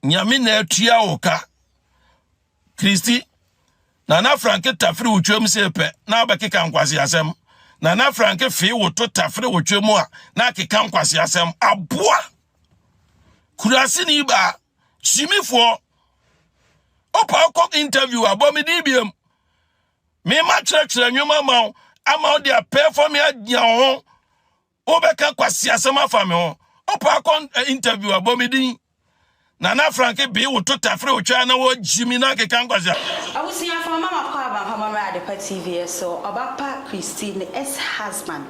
Nyame na atua wo ka. Kristi, Nana Franke tafere wo twam se pɛ na wobɛkeka nkwaseasɛm. Nana Franke fee wo to tafere wo twam a na akeka nkwaseasɛm. Aboa! Kuraseni baa, simifoɔ. Opa wokɔ interview a, bɔ me din biam. Mema kyerɛkyerɛ nnwom ama wo, ama wo de apɛɛfɔ me agyina wo ho. Wobɛka kwasi asɛm afa me ho. Wopɛ akɔ eh, interview a bɔ me din. Nana Frank bee wo to tafere wo twɛ na wɔgyi mi na akeka nkwasi a. Abusuafo ama makɔ Abankɔmmɔ Mmra Adepa TV so Ɔba pa Christie ne S husband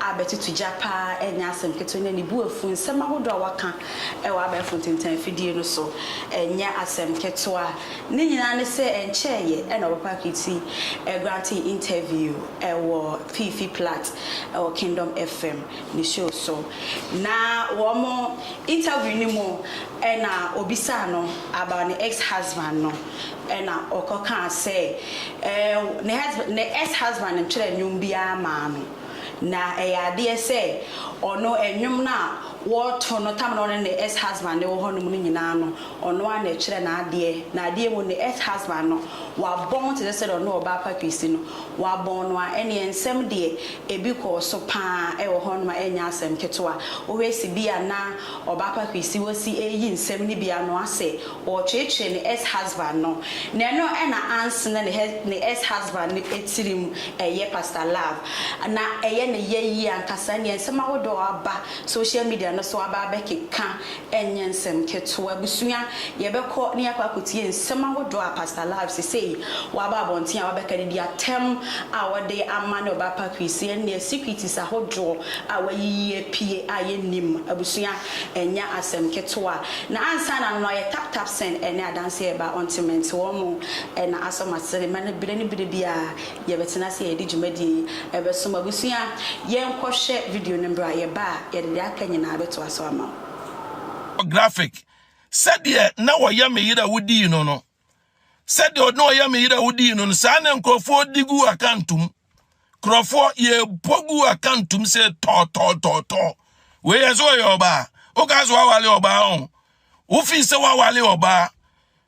a bɛtoto gya paa ɛnyɛ asɛm ketewa ne ne bo afu nsɛm ahodoɔ a wɔka ɛwɔ abɛɛfo ntentan afidie no so ɛnyɛ asɛm ketewa ne nyinaa ne sɛ ɛnkyɛɛyɛ ɛna Ɔba pa Christie ɛgrante interview ɛwɔ Fifi Plat ɛwɔ Kingdom FM ne show so na wɔn interview no mu ɛna obisaa no about ne ex husband no ɛna ɔkɔ kaa sɛ ɛɛ ne ex husband ntwerɛ nnwom biara maa no na ɛyɛ adeɛ sɛ ɔno nnwom no a wɔto no tam na ɔne ne ex husband wɔ hɔ nom no nyinaa no ɔno ara na ɛtwerɛ n'adeɛ na adeɛ mu no ex husband no Wɔabɔn wo te sɛ sɛdeɛ ɔno ɔbaa pa Christie no, wɔabɔn no a, ɛnneɛ nsɛm deɛ, ebi kɔɔ so pa ara wɔ hɔnom a ɛnyɛ asɛm ketewa. Wohwɛ sibea na ɔbaa pa Christie wɔsi reyi nsɛm no bi ano asɛ ɔretweetwee ne ex husband no, na ɛno na anse na ne ex husband no tirim yɛ Pastor Love, na ɛyɛ ne yɛ yie ankasa, ɛnneɛ nsɛm ahodoɔ aba social media no so aba abɛkeka Ɛnyɛ nsɛm ketewa. Abusua, yɛbɛkɔ na yɛakɔ akɔtie nsɛm ahodoɔ a Pastor Live sesei waba abɔnten a wabɛka de di atɛm a wɔde ama ne ɔbaa Patrice, ɛnneɛ secretes ahodoɔ a wayiyi apue a yɛnnim. Abusua, ɛnyɛ asɛm ketewa. Na ansa na no ayɛ tap tap sɛn ɛne adanseɛ reba, ɔntemente wɔn mo na asɔ m'asene, ma no bere ne bere biara Yɛbɛtena ase a yɛde dwumadie yi bɛsom. Abusua, yɛnkɔhwɛ video no bra, yɛba a yɛde deɛ aka nyinaa bɛtoa so ama wo. Graphic, Sɛdeɛ na wɔyɛ me yere a wodii no no, sɛdeɛ na wɔyɛ me yere a wodii no no, saa na nkurɔfoɔ di guu akantom. Nkurɔfoɔ, yɛbɔ guu akantom sɛ tɔɔtɔɔtɔɔtɔɔ. Wei yɛ sɛ ɔyɛ ɔbaa. Wokaa sɛ woawale ɔbaa o, wofii sɛ woawale ɔbaa.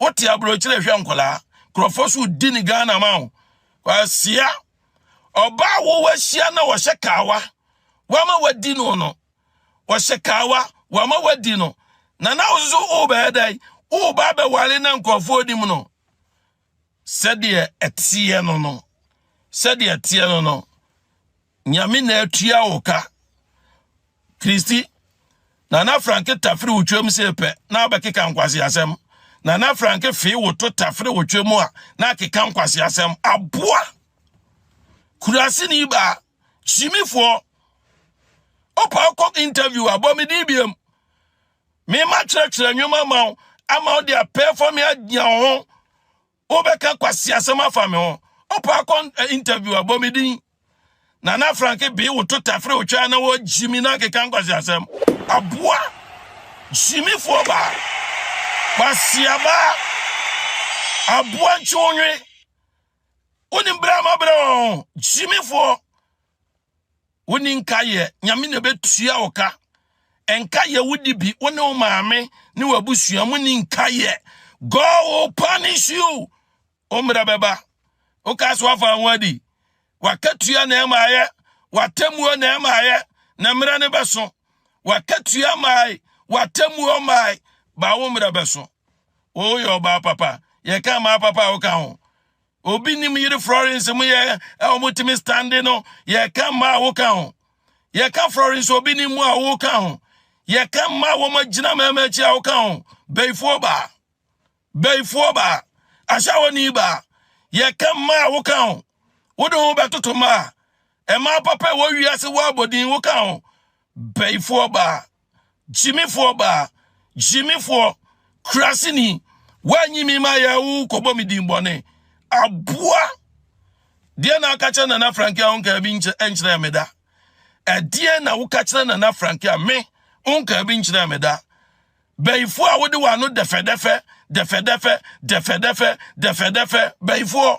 wote aburokyerɛ hwɛ nkwadaa nkurɔfoɔ so di ne ghana ma wo kwasia ɔbaa wo wahyia na wɔhyɛ kaawa wama wadi no no wɔhyɛ kaawa wama wadi no na na wo nso wobɛyɛ dɛn woba bɛware na nkurɔfoɔ nim no sɛdeɛ ɛteɛ no no, sɛdeɛ ɛteɛ no no, Nyame na atua wo ka. Kristi, Nana Franke tafere wo twam se pɛ na abɛkeka nkwaseasɛm. Nana Franke fee wo to tafere wo twam a na akeka nkwaseasɛm. Aboa! Kurase ni baa, hyimifoɔ, ɔpa ɔkɔ interview abɔ me din biam. Mema kyerɛkyerɛ nnwoma ma wo ama wode apɛɛfɔ me adia wo ho. Wobɛka kwasi asɛm afa me ho. Wopɛ akɔ eh, interview a bɔ me din. Nana Frank bee wo to tafere wo twɛ na wɔgyi me na akeka nkwasi asɛm. Aboa gyimifoɔ baa. Kwasi abaa. Aboa ntwonwe. Wonim berɛ a mabrɛ wɔn gyimifoɔ. wonni nkaeɛ nyame na ɛbɛtua wo ka nkaeɛ wodi bi wo ne wo maame ne w'abusua mu ni nkaeɛ god will punish you wo mmerɛ bɛba woka so afa ho adi wakatua na ɛmaeɛ watammuo na ɛmaeɛ na mmerɛ ne bɛso wakatua mae watammuo mae ba wo mmerɛ bɛso woyɛ ɔbaa papa yɛka maa papa a woka ho Obi nim yere Florence mu yɛ a wɔtumi stande no, yɛka mma a woka ho. Yɛka Florence obi nim mu a woka ho. Yɛka mma a wɔagyina mmarima akyi a woka ho. Bɛyifoɔ baa. Bɛyifoɔ baa. Ahyɛwɔni baa. Yɛka mma a woka ho. Wode ho bɛtoto mma a ɛmaa papa ɛwɔ wiase wɔ abɔdin woka ho. Bɛyifoɔ baa. Gyimifoɔ baa, gyimifoɔ, kuraseni, woanyi me ma yɛ wo kɔbɔ me din bɔne. Aboa! Deɛ na aka kyerɛ Nana Franke a wonkaa bi nkyerɛ me da? Ɛdeɛ na woka kyerɛ Nana Franke a me wonkaa bi nkyerɛ me da? Bɛyifoɔ a wode w'ano dɛfɛdɛfɛ, dɛfɛdɛfɛ, dɛfɛdɛfɛ, dɛfɛdɛfɛ, bɛyifoɔ.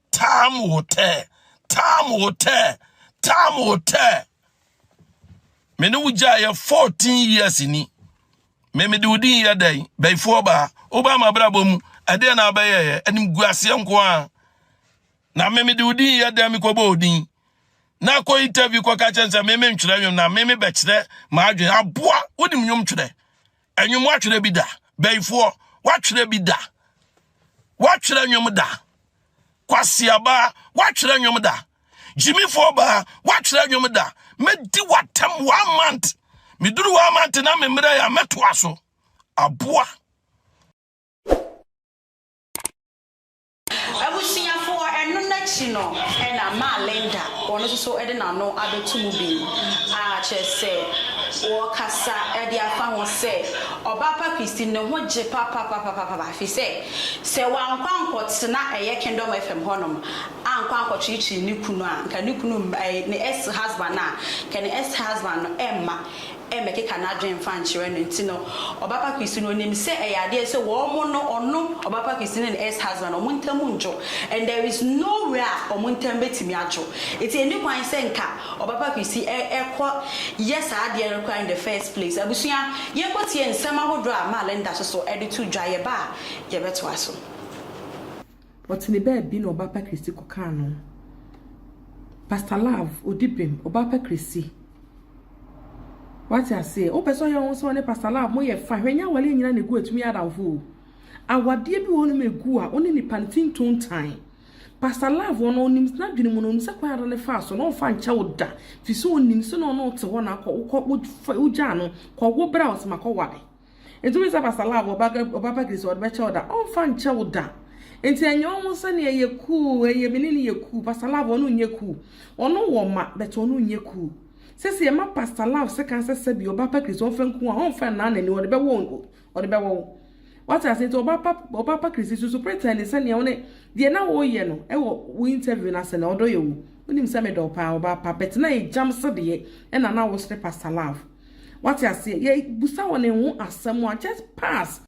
Tam wotɛ, tam wotɛ, tam wotɛ. Me ne wo gya yɛ 14 years ni. Me me de wo din yɛ dɛn? Bɛyifoɔ baa. Wobaa ma brabɔ mu. Ɛdeɛ na abɛyɛ yɛ. Anim gu aseɛ nko a. Na me me de wo din yɛ dɛn? Me kɔbɔ wo din. Na kɔ interview kɔ ka kyɛn sɛ me me ntwerɛ nwom na me me bɛkyerɛ m'adwene. Aboa, wonim nwom twerɛ. Ɛnwom watwerɛ bi da. Bɛyifoɔ watwerɛ bi da. Watwerɛ nwom da. Kwasiabaa watwerɛ nwom da. Gyimifoɔ baa watwerɛ nwom da. Mɛdi watam one month. Meduru one month na memmerɛ yɛ a mɛtoa so. Aboa. Abusuafoɔ, Ɛno no akyi no na maa Linda, ɔno nso so de n'ano abɛto mu bio, a kyerɛ sɛ ɔkasa de afa ho sɛ, Ɔba pa Christine ne ho gye papapapapapa firi sɛ, sɛ wankɔ ankɔtena ɛyɛ Kingdom FM hɔnom ankɔ ankɔkyirikyiri ne kunu a, nka ne kunu mma, ne ex-husband a, nka ne ex-husband no mma. mmɛkeka n'adwene mfa nkyerɛ no nti no, Ɔbapa Christy no nim sɛ ɛyɛ adeɛ sɛ wɔn no, ɔno, Ɔbapa Christy ne ne ex husband, wɔn ntam ndwo and there is no where a wɔn ntam bɛtumi adwo. Nti ɛnni kwan sɛ nka Ɔbapa Christy kɔ yɛ saa adeɛ no koraa in the first place. Abusua, yɛnkɔ tie nsɛm ahodoɔ a Maa Linda soso de to dwa, yɛba a yɛbɛtoa so. Ɔtene baabi na Ɔbaapa Christie kɔkaa no. Pastor Love, odi bem, Ɔbaapa Christie. Wate aseɛ? Wopɛ sɛ ɔyɛ wo sɛ ɔne Pastor Love mo yɛ fine. Hwɛ nyɛ awareɛ nyina na egu a ɛtumi yɛ adamfo o. Awadeɛ bi wɔ hɔ nom egu a, wo ne nipa no tin tone time. Pastor Love ɔno ɔnim, n'adwene mu no ɔnim sɛ kwan a ɔde ne faa so no ɔmfa nkyɛ wo da. Firi sɛ ɔnim sɛ na ɔne wo te hɔ na akɔ, wokɔ, wogyaa no, kɔ wo bra ɔsɛ makɔ ware. Enti woyɛ sɛ abasala a wɔba wɔba bakiri sɛ wɔde bɛkyɛ wo da ɔmfa nkyɛ wo da. Enti ɛnyɛ wɔn ho sɛ nea yɛ cool ɛyɛ me ne no yɛ cool pastor love ɔno nyɛ cool ɔno wɔ ma but ɔno nyɛ cool sɛ sɛ yɛma pastor love sɛ kan sɛ sɛbi ɔba bakiri sɛ ɔmfa nku a ɔmfa nnan n'ani ɔde bɛwɔ ɔde bɛwɔ wo wate ase nti ɔba pa ɔba bakiri si susu pretend sɛ nea wo ne deɛ na wɔyɛ no ɛwɔ wo interview no ase na ɔdɔ yɛ wo wonim sɛ medɔ paa ɔba pa but na ɛgyam sedeɛ ɛna na wo sere pastor love Wate aseɛ? Yɛ busa wɔn eho asɛm a just pass.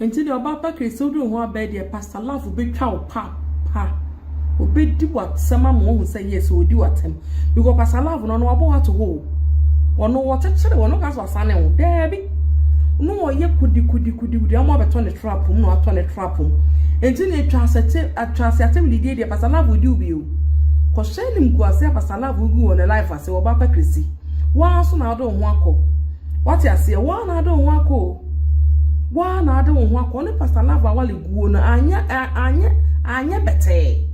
Nti deɛ ɔbaa pa Kay sɛ wode wo ho abɛɛ deɛ Pastor Love obetwa wo paapa. Obedi w'atɛm ama wahu sɛ yes ɔredi w'atɛm. Because Pastor Love no ɔno wabɔ wo ato hɔ o. Ɔno ɔkyekyere wo, ɔno ɔka sɛ wasane wo. Daabi. No ɔyɛ kudikudikudikudi ama wabɛtɔ ne trap mu na watɔ ne trap mu. Nti deɛ twa asɛte atwa ase atɛm didie deɛ Pastor Love odi wo bi o. Kɔhyɛ anim gu ase a Pastor Love gu wɔ ne life ase wɔ ɔbaa pa Chrissy. Wo ara nso na wode wo ho akɔ. Wate aseɛ? Wo ara na wode wo ho akɔ o. Wo ara na wode wo ho akɔ. Wo ne Pastor Love Awale guo no, anyɛ, anyɛ, anyɛ bɛtɛɛ.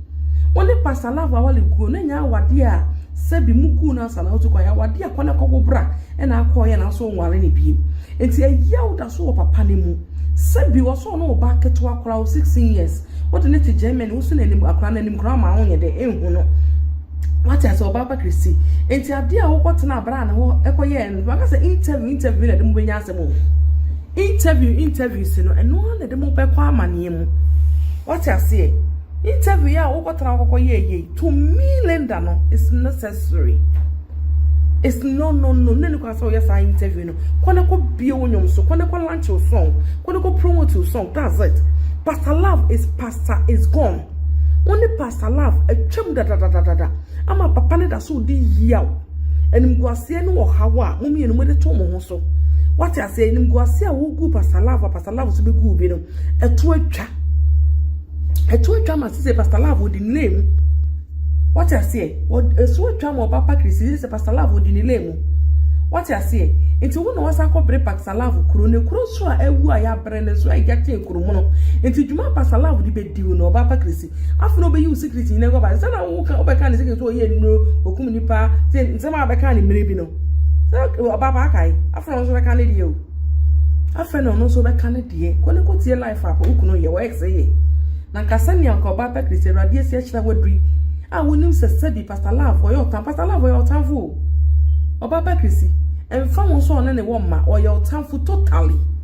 Wo ne Pastor Love Awale guo no, ɛnyɛ awadeɛ a sɛbi mo guu no ansa na wotu kwan. Ɛyɛ awadeɛ a kɔ na kɔwo bra na akɔɔyɛ na nso nware no biem. Nti ɛyɛ a woda so wɔ papa no mu. Sɛbi wɔ sɛ ɔne wo ba ketewa koraa, wo 16 years, wode no te Germany, woso n'anim, akora no anim koraa ma wonyɛ dɛ, nhu no. wate ase ɔbaa pa kristi nti adeɛ a wokɔ tena abira ne hɔ ɛkɔ yɛ ɛno baka sɛ interview interview na ɛde mo bɛnya asɛm o interview interview si no ɛno ara na ɛde mo bɛkɔ amaneɛ mu wate aseɛ interview yɛ a wokɔ tena wokɔ yɛ yɛ to me linda no is necessary it's no no no ne ne kɔ asɛ ɔyɛ saa interview no kɔ ne kɔ bie wo nyom so kɔ ne kɔ lunch wo song kɔ ne kɔ promote wo song that's it pastor love is pastor is gone. Wo ne Pastor Love atwam dadadadada ama papa no da so redi yiaw. Animguaseɛ ne ɔhaw a mo mmienu mode to mo ho so. Wate aseɛ animguaseɛ a wogu Pastor Love a Pastor Love nso bɛgu bi no, ɛto atwa. Ɛto atwa ma sɛ Pastor Love ɔdi ne lane mu. Wate aseɛ ɛso atwa ma ɔba pakiri si sɛ Pastor Love ɔdi ne lane mu. Wate aseɛ nti wo na wasa akɔbere Pastor Love kuro ne kuro nso a awu a yɛabrɛ no nso a ɛgya tee Kuromono. Nti dwuma Pastor Love de bɛdi wo no ɔba apa kirisi. Afei na ɔbɛyi wo security nyina agu aba. Sɛ na woka wobɛka ne security sɛ ɔyɛ nnuro, ɔkum nipa, sɛ nsɛm a bɛka ne mmerɛ bi no. Sɛ ɔba apa akae. Afei na ɔno nso bɛka ne deɛ o. Afei na ɔno nso bɛka ne deɛ. Kɔ ne kɔ tie life up wo kunu yɛ, wɔ ex yɛ. Na nka sɛnea nka ɔba apa kirisi awurade asi akyerɛ waduri. A wonim sɛ sɛbi Pastor Love ɔyɛ ɔtan. Pastor Love ɔyɛ ɔtanfo o. Ɔba apa kirisi. Ɛmfa ho nso ɔne ne wɔ mma, ɔyɛ ɔtanfo totally.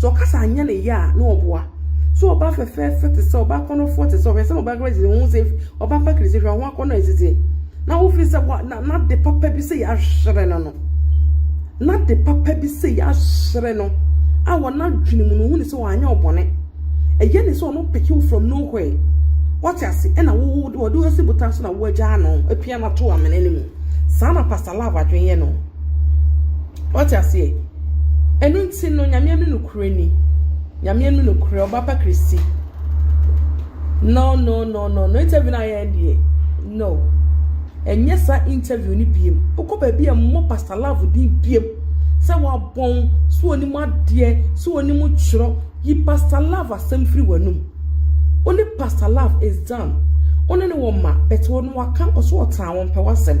Sɛ ɔkasa anyɛ ne yɛ a na ɔboa. Sɛ ɔba fɛfɛɛfɛ te sɛ ɔba akɔnɔfoɔ te sɛ ɔhwɛ sɛ ɔba kura sɛ ho sɛ ɔba pakiri sɛ hwɛ ho akɔnɔ ɛsisi. Na wofi sɛ wa na na de papa bi sɛ yɛahyerɛ no no. Na de papa bi sɛ yɛahyerɛ no a wɔn adwene mu no hu ne sɛ wɔanyɛ ɔbɔne. Ɛyɛ ne sɛ ɔno peke wo from nowhere. Wɔte ase ɛna wo wo wɔde wo asi botan so na wo agyaa no apia no ato amena no mu. Saa na Pastor Love adwene yɛ no. Wate aseɛ? Ɛno nti no, Nyame amu nokorɛ ni. Nyame amu nokorɛ, ɔba pa Christy. No, no, no, no, no, interview no ayɛ ɛndeɛ. No. Ɛnyɛ sa interview no biem. Wokɔ baabi a mmɔ Pastor Love din biem. Sɛ wabɔn, so onim adeɛ, so onim twerɛ, yi Pastor Love asɛm firi w'anum. Wone Pastor Love is done. Wone ne wɔ ma, but wɔn waka, ɔso ɔtaa wɔn pɛ w'asɛm.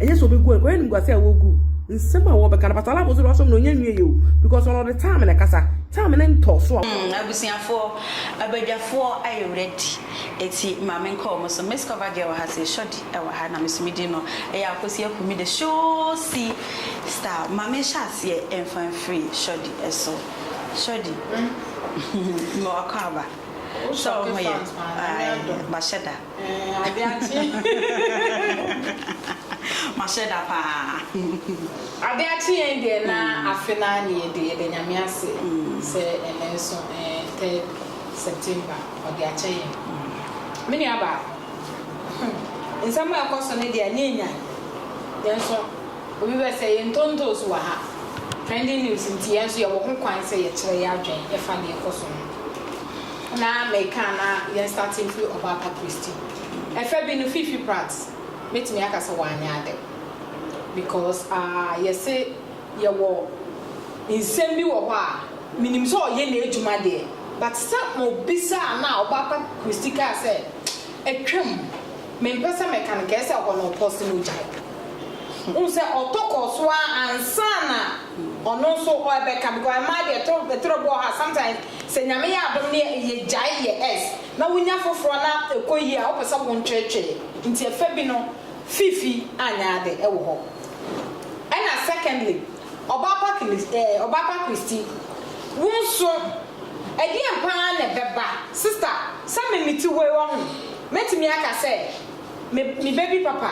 Ɛnyɛ sɛ ɔbɛgu anka ɔyɛ animguaseɛ a wɔgu nsɛm a wɔbɛka no pastor alabo nso deɛ wasɔm no ɔnyɛ nwie yɛ o because ɔno ɔde time na ɛkasa time no ntɔ so a. Hmm abusuafoɔ abadwafoɔ ayɛ ready ɛti maame nkɔ ɔmo so miss cover girl wɔ ha sɛ shorty ɛwɔ ha na meso medin no ɛyɛ akosi akumi the showsi star ma me nhyɛ aseɛ ɛnfa mfiri shorty ɛso shorty mewɔ akɔ aba sɛ ɔmo yɛ ae bahyɛ da. Eeh ade akye. Mahyɛ da paa. Ade akye yɛn deɛ na afe naa ne yɛde yɛda nyame ase sɛ ɛnɛ nso ɛɛ third September ɔde akyɛ yɛn me nua baako hmm nsɛm a ɛkɔ so no deɛ ɛnyɛ nyan yɛn nso obi bɛ sɛ yɛn ntontos wɔ ha trending news nti yɛn nso yɛwɔ ho kwan sɛ yɛkyerɛ yɛ adwen ɛfa deɛ ɛkɔ so no na meka a na yɛn starte mfiri Ɔbaapa Christy. Ɛfɛ bi no Fifi Pratt mɛtumi aka sɛ wanyɛ ade because ah yɛse yɛwɔ nsɛm bi wɔ hɔ a menim sɛ ɔyɛ n'adwuma deɛ but sɛ mo bisa a na Ɔbaapa Christy kaa sɛ atwam mempɛ sɛ mɛka no kɛɛ sɛ ɛhɔ no ɔpɔse no gyae. Wohu sɛ ɔtɔ kɔɔ so ara ansa na Ɔno nso ɔ ɛbɛka because ɛmaa deɛ ɛtɔ ɛtɔrɔ bi wɔ hɔ a sometimes sɛ nyame yɛ adom ne yɛ gyae yɛ ɛs na wo nya foforɔ na ɛkɔ yie a wo pɛ sɛ wo ntwɛtwɛɛ nti ɛfɛ bi no fiifi anyɛ ade ɛwɔ hɔ ɛna secondly ɔbaa pa kilis ɛɛ ɔbaa pa kristi wo nso ɛdeɛn paa na ɛbɛba sister sɛ me me ti hɔ yi wɔ ho mɛtumi aka sɛ Me me ba bi papa.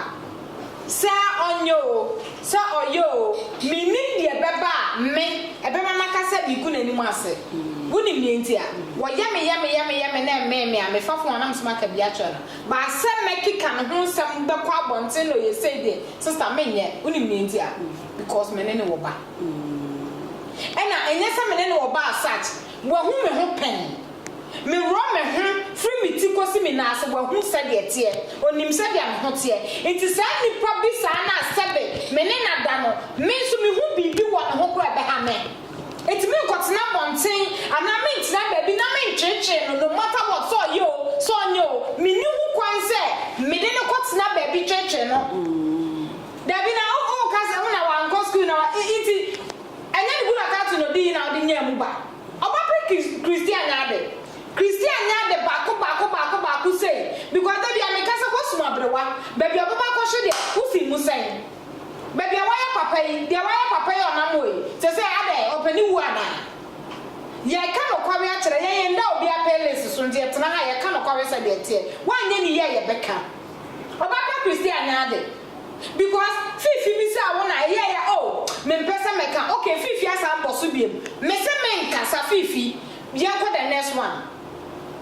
Sɛ ɔnyɛ oo, sɛ ɔyɛ oo, mennim deɛ ɛbɛba a me, ɛbɛma maka sɛ megu n'anim ase. Wonim deɛ nti a? Wɔyɛ me, yɛ me, yɛ me, yɛ me na ɛmmee me a, mefa fon a, na meso maka bi akyerɛ no. But sɛ mɛkeka ne ho nsɛm bɛkɔ abɔnten na ɔyɛ sei deɛ, sista, menyɛ. Wonim deɛ nti a? Because me ne no wɔ ba. Ɛna ɛnyɛ sɛ me ne no wɔ ba as such. Wahu me ho pɛn. Meworɔ me ho firi me ti kɔsi me nan ase, wahu sɛdeɛ ɛteɛ, ɔnim sɛdeɛ me ho teɛ. Enti saa nipa bi saa no a sɛbe me ne no ada no, me nso mehu biribi wɔ ne ho koraa a ɛbɛha me. Enti merenkɔtena abɔnten anaa merenkyena baabi na merentweetwee no no matter what, sɛ ɔyɛ o, sɛ ɔnyɛ o, menni ho kwan sɛ mede no kɔtena baabi tweetwee no. Dabi na wo, woka sɛ wo na wankɔ sukuu na wa, enti Ɛnyɛ ne kunu Akato na odii na ɔde nyaa mu ba. Ɔba bere Christian nya ade. Christian nya ade baako baako baako baako sei because da biara meka sɛ woasum aberewa. Baabi a ɔbɛba akɔhwe deɛ, wosi mu sɛn? Baabi a wayɛ papa yi, deɛ wayɛ papa yi a ɔnam hɔ yi, seesei adɛn, ɔpɛ ne wuo anaa? Yɛreka nokware akyerɛ, yɛn yɛnda obiara pɛlesi so nti yɛtena ha a yɛka nokware sɛdeɛ ɛteɛ. Woanyɛ ne yie a yɛbɛka. Ɔba bere Christian nya ade. Because fifi bisaa wo na ɛyɛɛ ya oh mempɛ sɛ mɛka ok fifi asan bɔ so biom mese menkasa fifi yɛnkɔ the next one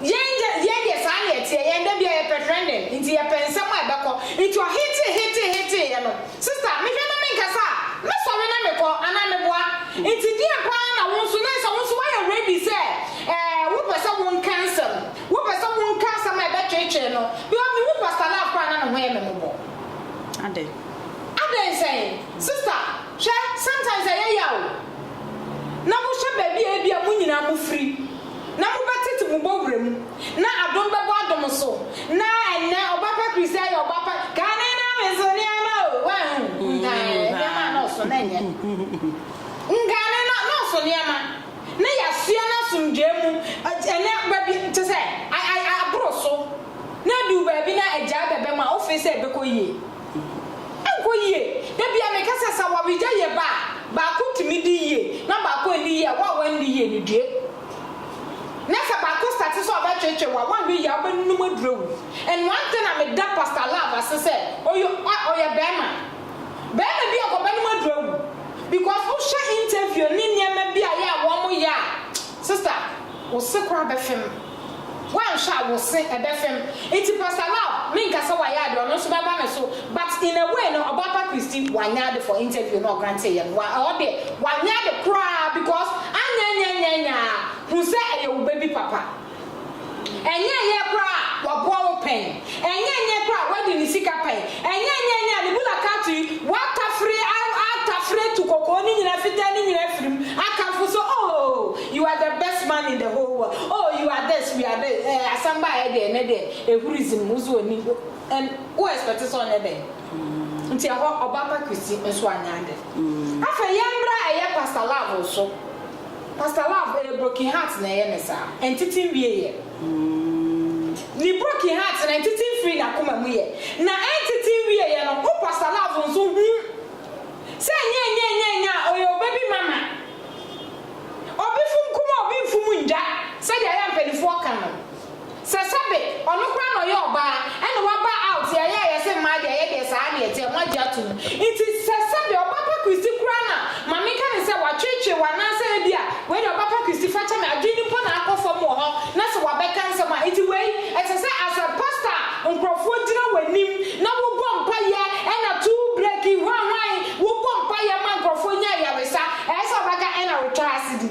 yɛn yɛ yɛn deɛ saa na ɛteɛ yɛn da biaa yɛpɛ trending nti yɛpɛ nsɛm a ɛbɛkɔ nti ɔhetee hetee hetee yɛ no sister mehwɛ na menkasa a mɛsɔre na mekɔ anaa meboa nti deɛn paa na wo nso na ɛsɛ wo nso woayɛ ready sɛ ɛɛ wopɛ sɛ wonka nsɛm Wopɛ sɛ wonka asɛm a ɛbɛtweetwee no? Because mihu Pastor Love koraa a na ne ho yɛ me mmɔbɔ. Adɛn? Adɛn sɛn? Sister, hwɛ, sometimes ɛyɛ yaw o. Na mohwɛ baabi a ebia mo nyinaa mofiri, na mobɛtete mo bɔ wura mu, na adom bɛbɔ adom so, na ɛnnɛ ɔba pa Christian yɛ ɔba pa, kane na me so nneɛma o, woahu? Nka nneɛma a na ɔso na ɛnyɛ. Nka ne na, na ɔso nneɛma. Na yɛasoa no asomdwoeɛ mu ɛnnɛ baabi te sɛ aboro so, na aduru baabi na agyaa bɛbɛ mu a wofee sɛ ɛbɛkɔ yie. Ɛnkɔ yie. Da biara meka sɛ sɛ awaregya yɛ ba a, baako tumi di yie na baako anni yie a, wo a woanni yie no due. Na sɛ baako starte sɛ ɔbɛtwetwe wo a, woanhwɛ yie a wobɛnunum aduru awu. Ɛnoa nti na meda Pastor Love ase sɛ ɔyɛ ɔyɛ barima. Bɛɛma bi a ɔkɔba no mu aduru awu because wo hwɛ interview ne nneɛma bi a yɛ a wɔn yɛ a sister wo se koraa bɛfem wanhwɛ a wo se ɛbɛfem nti pastor love me nka sɛ wayɛ ade ɔno nso bɛba ne so but in a way no ɔba pa christy wanyɛ ade for interview na ɔgrante yɛ no wa ɛhɔ deɛ wanyɛ ade koraa because anyɛ nyɛ nyɛ nyɛ a hu sɛ ɛyɛ wo baby papa. Ɛnyɛ ɛnyɛ koraa a waboa wo pɛn, ɛnyɛ ɛnyɛ koraa a wadi ne sika pɛn, ɛnyɛ ɛnyɛ ɛnyɛ a ne bula kato yi watafere atafere atu kɔkɔɔ no nyinaa fitaa no nyinaa afiri mu akamfo sɛ oh you are the best man in the whole world oh you are this you are this ɛɛ eh, asɛm baeɛ deɛ ɛnɛ deɛ ehuri zim wo so oni ɛn wo expect sɛ ɔnyɛ dɛn nti ɛhɔ ɔbaapa Kristi nso anyɛ ade mm. afei yɛn mmra ɛyɛ pastor love so. Pastor love ɛyɛ broken heart na ɛyɛ me saa ɛntete nwie yɛ ne broken heart na ɛntete nfiri nakoma mu yɛ na ɛntete nwie yɛ no wo pastor love nso hu sɛ ɛnyɛ ɛnyɛ ɛnyɛ ɛnyɛ a ɔyɛ ɔbabi mama ɔbi fom kuma ɔbi nfom ndwa sɛdeɛ ayɛ a mpanifoɔ ka no Sɛ sɛbe ɔno koraa na ɔyɛ ɔbaa ɛna waba out yɛ ayɛ a yɛse mmaa deɛ ɛyɛ deɛ saa na ɛteɛ, moagye atom. Nti sɛ sɛbe ɔba pa Christy koraa na ma menka no sɛ watweetwee wo anaasɛ ebia wei deɛ ɔba pa Christy fakyɛ me adwene no mpo na akɔ fam wɔ hɔ na sɛ wabɛka nsɛm a nti wei ɛsɛ sɛ as a pastor a nkorɔfoɔ gyina w'anim na wobɔ mpaeɛ ɛna to breki hwanhwan wobɔ mpaeɛ ma nkorɔfoɔ nya ayaresa ɛsɛ sɛ ɔbɛka ɛna retwa asedi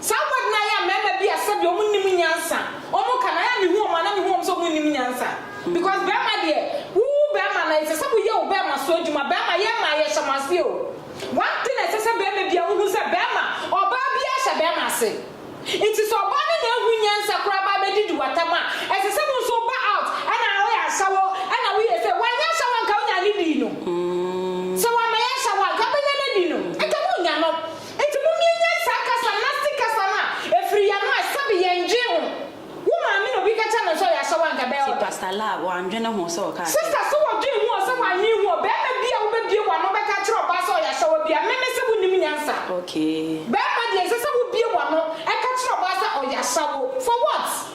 Saa aguadi no ayɛ a mmarima bi a sɛdeɛ wɔn nnim nyansa wɔn ka no ayɛ a me hu wɔn a na me hu wɔn sɛ wɔn nnim nyansa because barima deɛ wo wo barima na ɛsɛ sɛ wo yɛ wo barima so adwuma barima yɛ mmaa yɛ hyɛ mo ase o one thing a ɛsɛ sɛ barima biara wo hu sɛ barima ɔbaa biara hyɛ barima ase nti sɛ ɔbaa no nya hu nyansa koraa ba abɛdi di watam a ɛsɛ sɛ wo nso wo ba out ɛna wo yɛ asawo ɛna wo yɛ sɛ wanyɛ asawo a nka wo nya ne dii no sɛ wama yɛ asawo a nka bɛnya no adi no nka mo nya no. Enti momie nyɛ saa kasa, nasty kasa no a ɛfiri yɛn ano a sɛbe yɛn dwen ho. Wo maame na obi ka kyerɛ no sɛ ɔyɛ asawa anka bɛyɛ ɔdɔ. Pastor laa wandwene ho sɛ ɔkaa sɛ. Sister sɛ wɔdwen ho ɔ sɛ wannwen ho ɔ bɛɛma bia wo bɛbie wano bɛka akyerɛ ɔbaa sɛ ɔyɛ asawa bia me me sɛ wo nim nyansa Okay. bɛɛma deɛ ɛnsɛ sɛ wo bie wano ɛka kyerɛ ɔbaa sɛ ɔyɛ asawo for what?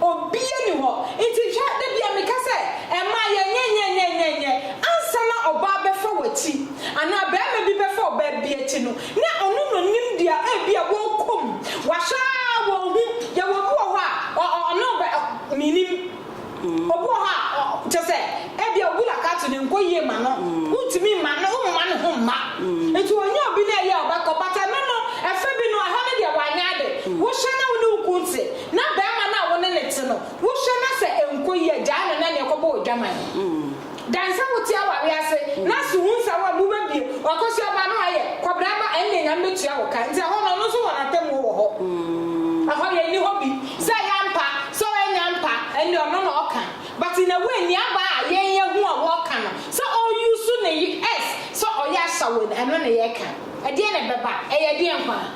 Obiara nni hɔ. Enti hwɛ, da biara meka sɛ, Mma yɛnyɛ nyɛnyɛnyɛnyɛ. Ansa na ɔbaa bɛfa w'akyi, anaa barima bi bɛfa ɔbaa bi akyi no, na ɔno na ɔnim deɛ ebia wɔrekɔ mu. Wɔahwɛ ara wɔnhu. Yɛwɔ obi wɔ hɔ a, ɔ, ɔ, ɔne wo bɛ, ɔ, mennim. Obi wɔ hɔ a, ɔ, kyerɛ sɛ, ebia wo bula kato no nkɔ yie mma no. Wontumi mma no, womma ne ho mma. Enti ɔnyɛ obi na ɛyɛ a ɔbɛkɔ. But ɛno no, ɛfa bi no, ɛhɔ no deɛ wanyɛ ade. Wohwɛ na wo ne wo kunu te. Na barima no a wo ne no te no, wohwɛ na sɛ ɛnkɔ yie a, gyaa no na neɛ kɔbɔ odwaman. Dan sɛ wote awareɛ ase na so hu sɛ wo a, mobɛbie. Ɔkɔsoɛ aba no ayɛ, kɔbrɛ aba, ɛnneɛ Nyame bɛtua wo ka. Nti ɛhɔ no, ɔno nso wɔ n'atemmuo wɔ hɔ. Ɛhɔ yɛ nni hɔ bi sɛ ɛyɛ ampa, sɛ ɛnyɛ ampa, ɛnneɛ ɔno na ɔka. But in a way, nea aba a yɛn yɛhu a wɔka no, sɛ ɔuse ne y-s, sɛ ɔyɛ asawen, ɛno na yɛka. Ɛdeɛn na ɛbɛba? Ɛyɛ ɛdeɛn koraa?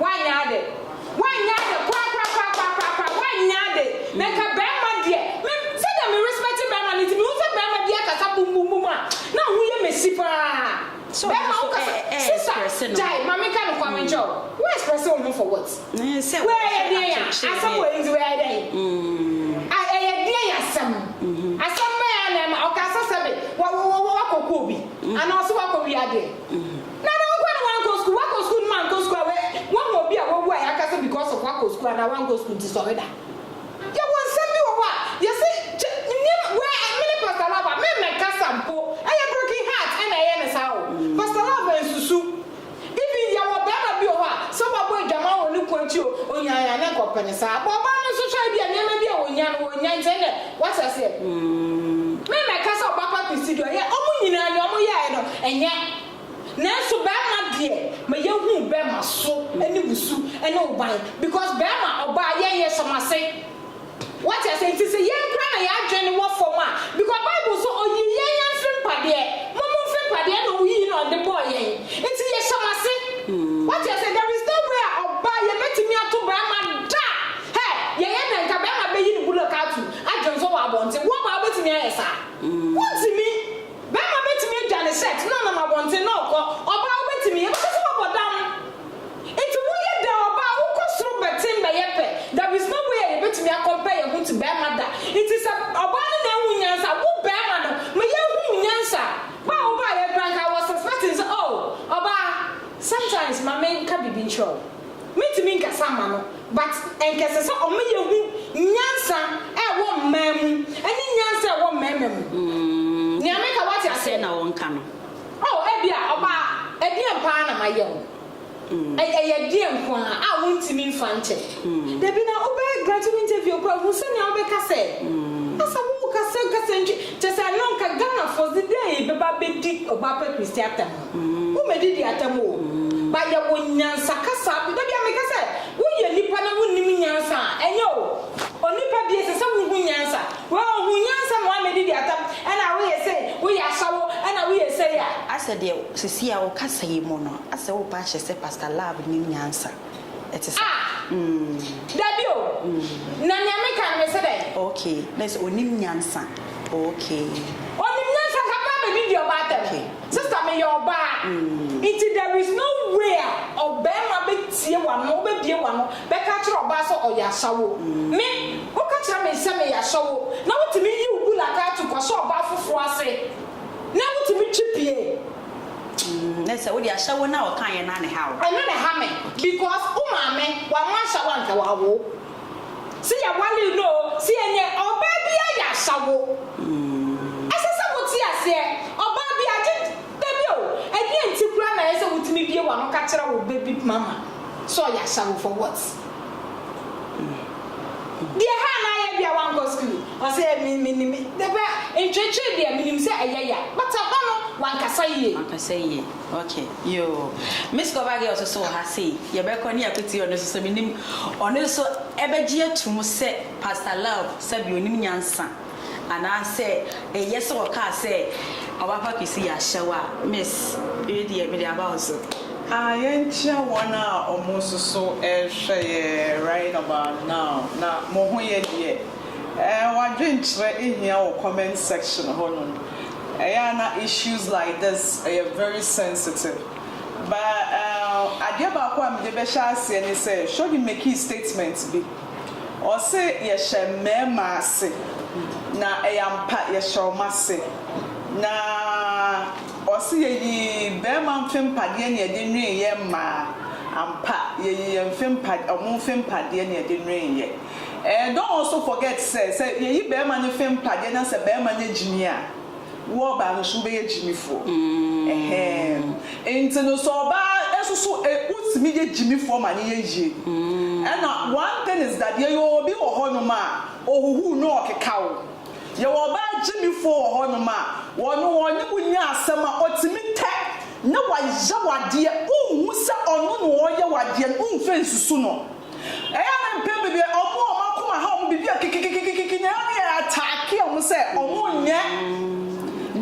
Wannyɛ ade. Wannyɛ ade korakorakorakorakoraa. Wannyɛ ade. Na nka bɛɛma deɛ, me, sɛdeɛ me respect bɛɛma no nti, mehu sɛ bɛɛma bi akasa bumbumbum a, na aho yɛ mesi paa. Bɛɛma wo kasa, sista, gyae, ma me nka no koraa me nkyerɛ wo. Wo express wo ho for what? Wei ɛyɛ deɛn a, asɛm wei nti wei ayɛ dɛn? A, ɛyɛ deɛn asɛm? Asɛm bɛn ara na ɛma, ɔkaa sɛ sɛbe, wa, wa, wa, wa, wakɔku obi? Anaa ɔse wakɔ wia deɛn? Na dɛn nko na wankɔ sukuu? Wakɔ sukuu no mankɔ sukuu a wahu obi a wawu a yɛaka sɛ because of wakɔ sukuu anaa wankɔ sukuu nti sɔre da. Yɛwɔ nsɛm bi wɔ hɔ a yɛse kyɛ nneɛma wɛ me ne Pastor Lava me mmɛ kasa mpo ɛyɛ broken heart ɛna ɛyɛ no saa o Pastor Lava nsusu even yɛwɔ bɛɛma bi wɔ hɔ a sɛ wabɔ adwaman wɔ ne kunu akyi o onya a ne nkɔ pɛ no saa but ɔbaa no nso hwɛ ebia nneɛma bi a onya no onya nti ɛnɛ wate aseɛ me mmɛ kasa ɔbaa pa Christy deɛ ɔyɛ ɔmo nyinaa nea ɔmo yɛɛ no ɛnyɛ Nanso bɛɛma deɛ ma yɛ hu bɛɛma so ne wo su ne wo ban because bɛɛma ɔbaa yɛ yɛ hyɛ mo ase wate aseɛ nti sɛ yɛn koraa na yɛ adwene wɔ fam a because bible so ɔyii yɛn yɛn mfiri mpadeɛ mo mo mfiri mpadeɛ ɛna ɔyii na ɔde bɔɔ yɛn nti yɛ hyɛ mo ase wate aseɛ there is no way a ɔbaa yɛ bɛtumi ato bɛɛma da hɛ yɛ yɛ dɛn ka bɛɛma bɛyi ne bulɔk ato adwene so wɔ abɔnten wo ɔbaa wobɛtumi ayɛ saa wo ntumi Bɛrima bɛtumi adwa ne shirt na ɔnam abɔnten na ɔkɔ, ɔbaa wobɛtumi? Yɛbɛka sɛ wabɔ dam. Nti woyɛ dɛn ɔbaa wokɔ soro bɛten bɛyɛ pɛ, there is no way a yɛbɛtumi a compare yɛn ho to bɛrima da, nti sɛ ɔbaa no na ahu nyansa a, wo bɛrima no ma yɛnhu wo nyansa. Bɛ a wobaeɛ koraa nka I was suspecting sɛ oh ɔbaa sometimes ma menka biribi nkyerɛ wo, mentumi nkasa mma no, But nka ɛsɛ sɛ ɔma yɛhu nyansa a ɛwɔ mmaa mu ne nyansa a ɛwɔ mmarima mu. Nea meka woate aseɛ? Sɛn na wɔnka no? Oh, ebia ɔbaa, ɛdeɛn paa na mayɛ wo? Ɛyɛ ɛdeɛn nko ara a wontumi mfa nkyɛ? Dabi na wobɛyɛ graduate interview koraa hu sɛnea wobɛka sɛ asɛ worekasa nkasa ntwi. Kyerɛ sɛ ɛno nka Ghanafoɔ dze dɛn bɛba abɛdi ɔbaapa Christy atɛm? Wo mɛ didi atam o. Ba yɛ wo nyansa kasa bi da bi a me ka sɛ wo yɛ nipa na wo nim nyansa a ɛnyɛ o onipa bi ɛsɛ sɛ wo hu nyansa wɛ o hu nyansa ma wa mɛ didi atam ɛna wo yɛ sɛ wo yɛ asawo ɛna wo yɛ sɛ ya. Asɛ deɛ sisi a wo kasa yi mu no asɛ wo ba kyɛ sɛ pastor love nim nyansa ɛte sɛ Ah mm. Dabi o na nea me ka no me sɛ dɛn. Ok na ɛsɛ onim nyansa ok. Onim nyansa nka ba mɛ didi ɔba atam. Sister meyɛ ɔbaa nti there is no way a ɔbarima bɛtie w'ano wobɛbie w'ano bɛka akyerɛ ɔbaa sɛ ɔyɛ ashawo me woka kyerɛ me sɛ meyɛ ashawo na wotumi yi wo bulakatu kɔhyɛ ɔbaa foforɔ ase na wotumi twi pie. Nɛ sɛ wode ashawo no a ɔkaeɛ no a na ɛha wo. Ɛno na ɛha me because wo maame wamma ashawo anka wawo wo. Se yɛware no o, se ɛneɛ ɔbaa bi ayɛ ahya wo. Ɛsɛ sɛ wo te aseɛ, ɔbaa bi agye da bi o, ɛneɛ nti koraa na ɛyɛ sɛ wo tumi bie w'ano ka kyerɛ wo baby mama sɛ ɔyɛ ahya wo for what? Deɛ ɛha anaa yɛ bia wankɔ school? Ɔse eh me me nim, dɛbɛ ntweetwee deɛ me nim sɛ ɛyɛ ya, but ɛhɔ no wankasa yie. Wankasa yie, okay. Yoo Miss Cover Girl soso wɔ ha sei yɛbɛkɔ ne Akuti ɔno soso menim ɔno soso ɛbɛgye atum sɛ Pastor Love sɛbi onim nyansa anaa sɛ ɛyɛ sɛ ɔkaa sɛ ɔbɛfa Kwesi yɛ ahyɛwo a Miss wei deɛ mede aba wo so. Ah yɛnkyia wɔn a ɔmo soso ɛrehwɛ yɛ right about now na mo ho yɛ deɛ? Ɛɛ w'adwenkyerɛ hia wɔ comment section hɔ nom Ɛyɛ a na issues like this yɛ very sensitive but uh adeɛ baako a mede bɛhyɛ aseɛ ne sɛ Shogi makee statement bi ɔse yɛhyɛ mmarima ase na ɛyɛ ampa yɛhyɛ wɔn ase na ɔse yɛyi barima mfe mpadeɛ na yɛde nwene yɛn mmaa ampa yɛyi yɛn mfe mpa wɔn mfe mpadeɛ na yɛde nwene yɛn. Eh don't also forget sɛ sɛ yɛyi bɛɛma no fɛ mpadeɛ na sɛ bɛɛma nyɛ gyimi a wo ɔbaa no nso wobɛyɛ gyimifoɔ ɛhɛɛm nti no sɛ ɔbaa nso so eh wotumi yɛ gyimifoɔ ma no yɛ yie ɛna one thing is that yɛyɛ obi wɔ hɔ nom a ɔhuhuu na ɔkeka wo yɛwɔ ɔbaa gyimifoɔ wɔ hɔ nom a wɔn wɔne wo nya asɛm a ɔtumi tɛ na wayɛ wadeɛ wonhu sɛ ɔno na ɔyɛ wadeɛ no womfɛ nsusu no. Ɛyɛ a na mpɛn bebree wɔn a wɔn akoma ha wɔn biribi a kikikikikiki na ɛyɛ a na yɛ ataake wɔn sɛ wɔn nyɛ.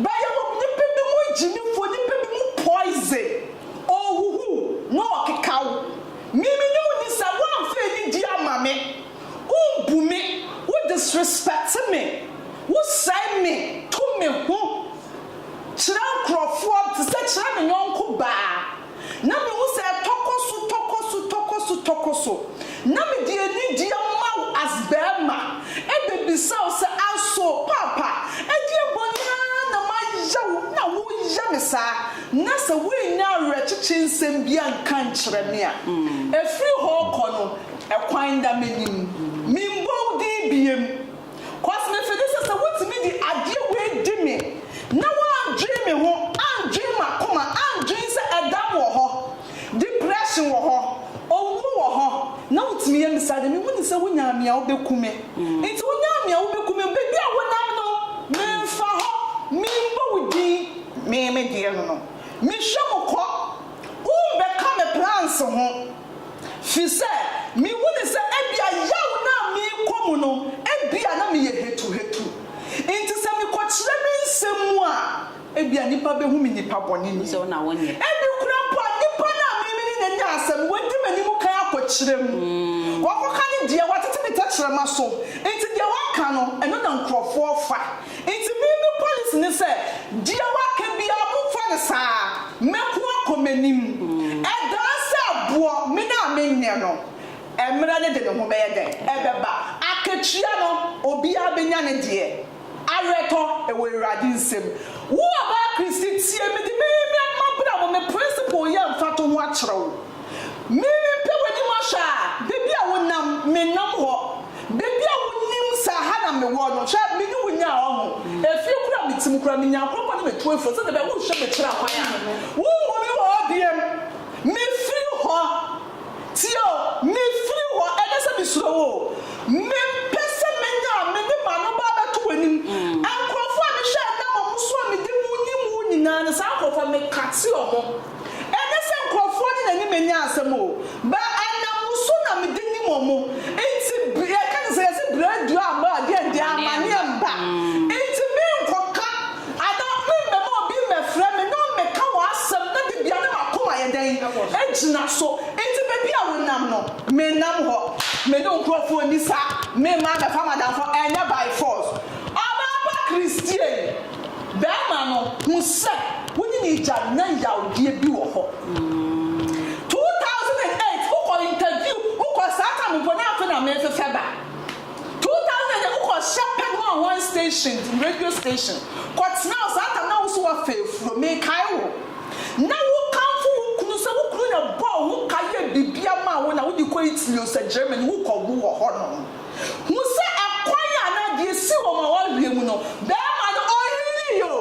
Bɛyɛ wɔn nipa bi mu gyimifoɔ, nipa bi mu poison, ɔhuhu na ɔkeka wo. Me me ne wo ni sɛ woanfa anidie ama me, wombu me, wo disrespect me, wo sɛe me, tu me ho kyerɛ nkorɔfoɔ te sɛ kyerɛ ne yɔnko baa. Na mehu sɛ tɔkɔ so, tɔkɔ so, tɔkɔ so, tɔkɔ so, na mede anigyeɛ ma wo as barima, ɛbɛbisa wo sɛ, Aso, Paapa, ɛdeɛ bɔne ara na mayɛ wo na woyɛ me saa? Na sɛ woannya awerɛkyekye nsɛm bi anka ankyerɛ me a, ɛfiri hɔ rekɔ no, ɛkwan da m'anim. Memmɔ wo din biom. 'Cause mefe ne sɛ sɛ wotumi de adeɛ wei di me na wandwen me ho, andwen m'akoma, andwen sɛ ɛdam wɔ hɔ, depression wɔ hɔ, owuo wɔ hɔ, na wotumi yɛ me saa deɛ mehu ne sɛ wonyaa me a wobɛku me. Nti wonyaa me a wobɛku me, baabi a wonam no memfa hɔ, memmɔ wo din, me me deɛ no no mehwɛ mo kɔ, wombɛka me plans ho. Fi sɛ mihu no sɛ ebia yaw no a merekɔ mu no ebia na meyɛ hatuhatu. Enti sɛ mekɔkyerɛ me nsɛm mu a, ebia nnipa behu me nipa bɔne ni. Ebi koraa mpo a nipa no a me ne no nya nya asɛm no wadi m'anim kan akɔkyerɛ mu. Wakɔka ne deɛ, watete ne tɛkyerɛma so. Enti deɛ waka no, ɛno na nkurɔfoɔ fa. Enti me me policy ne sɛ deɛ waka biara momfa no saa, mɛko akɔ m'anim. Ɛdaa sɛ boɔ me no a menyɛ no, mmerɛ no de ne ho bɛyɛ dɛn? Ɛbɛba. Akatua no, obiara bɛnya ne deɛ. Awerɛtɔ, ɛwɔ Awurade nsam. Wo ɔbaa Christy, tie me de me me mmabra mu me principle yɛ mfatoho akyerɛ wo. Mimi pɛ w'anim ahwɛ a, baabi a wo nam, me nam hɔ, baabi a wo nnim sɛ aha na me wɔ no, hwɛ, me ne wo nyaa ɔho, efie kura me tirim koraa, me nya nkorɔfoɔ ne me to afuo, sɛdeɛ ɛbɛyɛ a wo hwɛ me kyerɛ kwan a, wo nhu me wɔ hɔ biam, me firi hɔ, tie o, me firi hɔ, ɛnyɛ sɛ me suro wo o, me pɛ sɛ me nya a, me de m'ano ba bɛto w'anim, nkorɔfoɔ a me hwɛ a nam ɔmo so a me de mu nim wo nyinaa no, saa nkorɔfoɔ me kate ɔmo. Ɛnyɛ sɛ nkurɔfoɔ ne n'anim nya asɛm o, but ɛnam wo so na mede nim wɔn, nti br yɛka te sɛ yɛse brɛ aduru amma a deɛn deɛ amaneɛ mba, nti menkɔka anaa memmɛma obi mmɛfrɛ me na ɔmmɛka w'asɛm na dabia na m'akoma ayɛ dɛn agyina so, nti baabi a wonam no mennam hɔ, me ne wo nkurɔfoɔ nni saa, memma mmɛfa m'adamfo, ɛnyɛ by force, ɔbaa pa Christian. Bɛɛma no hu sɛ wo ne ne gya nya yawdeɛ bi wɔ hɔ. 2008 wo kɔ interview wo kɔ saa time mpo na afe na me fefɛ ba 2008 wo kɔ hyɛ pɛ no a wɔn station radio station kɔ tena wo saa time na wo so wa fɛ furo me kae wo na wo kanfo wo kunu sɛ wo kunu na bɔ wo ka yɛ bibia ma wo na wo di kɔ Italy o sɛ Germany wo kɔ wo wɔ hɔ no. Hu sɛ ɛkwan a na deɛ si wɔn awareɛ mu no bɛɛma no ɔyiri yɛ o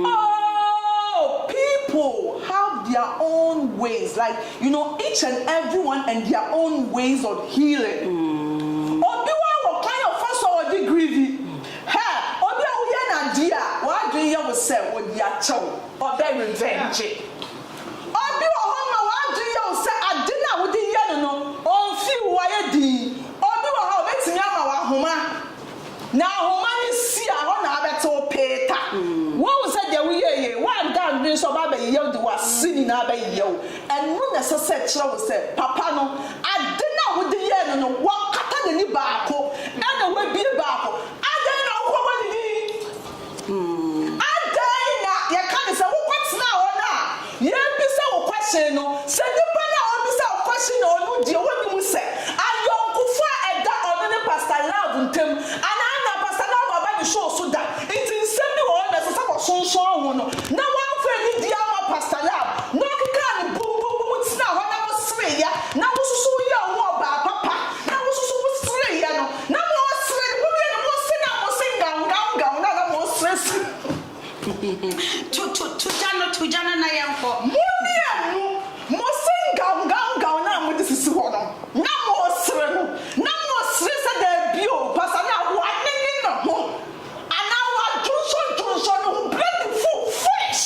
oh people have their own ways like you know each and everyone and their own ways of healing obi wa wɔ kwan a ɔfa so a ɔde greedy hɛ obi a woyɛ no adeɛ a w'adwene yɛ wo sɛ ɔde akyɛw ɔbɛ revenge. Obi wɔ hɔ ma w'adwene yɛ wo sɛ ade no a wode yɛ no no ɔmfii wo wayɛ dinn. Obi wɔ hɔ a obetumi ama wo ahoma na ahoma no si a hɔ na abɛte wo pee ta. Woahu sɛ deɛ woyɛɛ yɛ yi woanda adwene so ɔba abɛyeyɛ wo de w'ase nyinaa abɛyeyɛ wo. Ɛno na ɛsɛ sɛ ɛkyerɛ wo sɛ papa no ade no a wode yɛɛ no no wakata n'ani baako ɛna wabue baako. Adɛn na wokɔ bɔ ne din? Hmm. Adɛn na yɛka no sɛ wokɔtenaa hɔ no a yɛrebisa wo question no? Sɛ nnipa no a wɔrebisa wo question no ɔno deɛ wɔnnim sɛ ayɔnkofo a ɛda ɔno ne Pastor Love ntam anaa na Pastor Love aba ne show so da nti nsɛm bi wɔ hɔ na ɛsɛ sɛ wɔsonsɔn ho no na wɔamfa anidie amma Pastor Love na ɔkekaa no bom bom bom tenaa hɔ na wosereeɛ na wo nso so woyɛɛ wo ho ɔbaa papa na wo nso so wosereeɛ no Na moresere, ne ho wie no mose na mose ngaw ngaw ngaw no a na moresere sere. To to to gya no to gya no na yɛnkɔ. Monnye mmu, mose ngaw ngaw ngaw no a mode sisi hɔ no na moresere no na moresere sɛ daabi o pasa no a wanene ne ho anaa wadwonsɔ dwonsɔ ne ho bere adu full finish.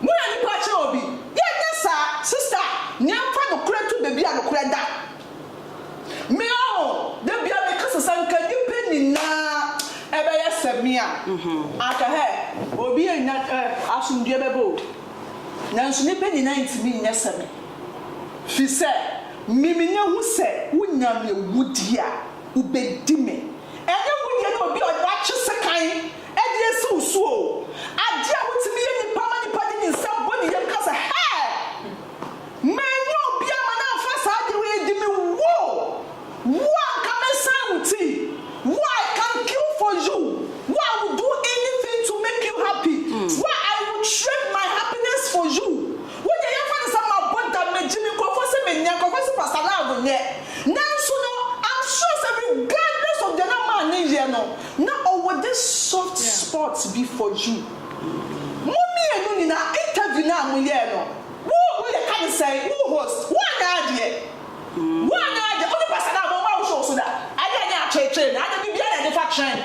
Mo na nipa kyerɛ obi. Yɛ nyɛ saa sista nea nfa nokorɛ to baabi a nokorɛ da me ɔho da bia me kasa sɛ nka nipa nyinaa ɛbɛ yɛ sɛ me a anka hɛ obi yɛ nya ɛ asomdwie bɛ bɛ o nanso nipa nyinaa ntimi nyɛ sɛ me fisɛ me me nya hu sɛ wo nya me wu di a wo bɛ di me Ɛnyɛ wo deɛ ne obi a wɔakye sekan de asi wo so o. Adeɛ a wotumi yɛ nnipa ma nnipa de ne nsa bɔ ne yam ka sɛ, Hɛɛ! Manyɛ obi amma no amfa saa adeɛ wei adi me. Wo! Wo a anka mɛsan wo ti. Wo a I can kill for you. Wo a I will do anything to make you happy. Wo a I will trade my happiness for you. Wo deɛ yɛmfa no sɛ mabɔ dam magye me nkurɔfoɔ sɛ menyɛ nkurɔfoɔ sɛ Pastor Largo nyɛ nanso no I'm sure sɛ regardless of deɛ na maa no yɛ no na ɔwɔ this soft spot bi for you. Mo mmienu nyinaa interview no a moyɛɛ no wo wo yɛka no sɛn wo host woanyɛ adeɛ woanyɛ adeɛ wo ne Pastor Largo ɔmma wo show so da adeɛ a nyɛ atweetwee no adeɛ biribiara na yɛde fa trend.